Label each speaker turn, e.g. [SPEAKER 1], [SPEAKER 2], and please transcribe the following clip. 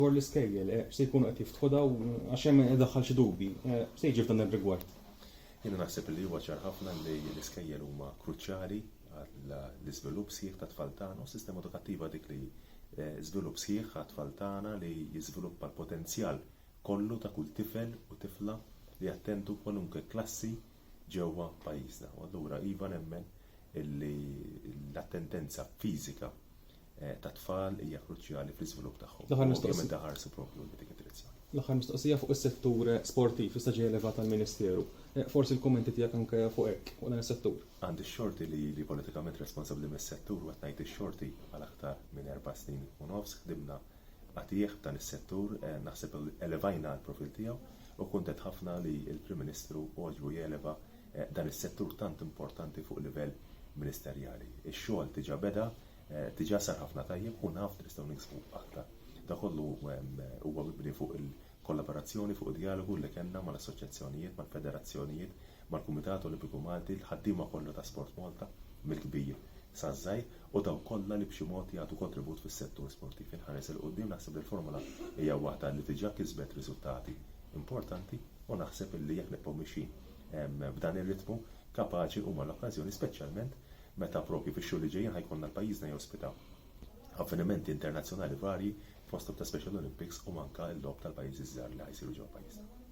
[SPEAKER 1] dwar l-iskejjel, eh, se jkunu qed jiftħu daw għax hemm idaħħal xi dubji. Eh, se jiġi f'dan ir-rigward? Jiena naħseb li huwa ċar ħafna li l-iskejjel huma kruċjali għall-iżvilupp sħiħ tat-tfal tagħna u s-sistema edukattiva dik li eh, żvilupp sħiħ għat-tfal tagħna li jiżviluppa l-potenzjal kollu ta' kull tifel u tifla li jattendu kwalunkwe klassi ġewwa pajjiżna. U allura iva nemmen illi l-attendenza fiżika eh, ta' tfal hija kruċjali fl-iżvilupp tagħhom. L-aħħar mistoqsija daħarsu propju dik id-direzzjoni. L-aħħar mistoqsija fuq is-settur sportiv issa ġej elevat tal-Ministeru. Eh, forsi l-kummenti tiegħek anke fuq hekk fuq dan is-settur. Għandi x-xorti li li politikament responsabbli mis-settur u qed ngħid ix-xorti għal aktar minn erba' snin u nofs ħdimna għatih dan is-settur eh, naħseb elevajna l-profil tiegħu u kuntet ħafna li l-Prim Ministru għoġbu jeleva dan is-settur tant importanti fuq livell ministerjali. Ix-xogħol diġà beda, diġà sar ħafna tajjeb u naf li nistgħu niksbu aktar. Da kollu huwa mibni fuq il-kollaborazzjoni, fuq id-djalogu li kellna mal-assoċjazzjonijiet, mal-federazzjonijiet, mal-Kumitat Olimpiku Malti, l-ħaddiema kollha ta' Sport Malta, mill-kbir saż-żgħir, u dawk kollha li b'xi mod jagħtu kontribut fis-settur sportiv. Inħares 'il quddiem naħseb li l-formula hija waħda li diġà kisbet riżultati importanti u naħseb li jekk nibqgħu mixjin b'dan ir-ritmu kapaċi huma l-okkażjoni speċjalment meta propju fix-xhur li ġejjin ħajkollna l-pajjiżna jospita avvenimenti internazzjonali varji fosthom ta' Special Olympics u anke l-Logħob tal-Pajjiżi ż-Żgħar li ħajsiru ġewwa pajjiżna.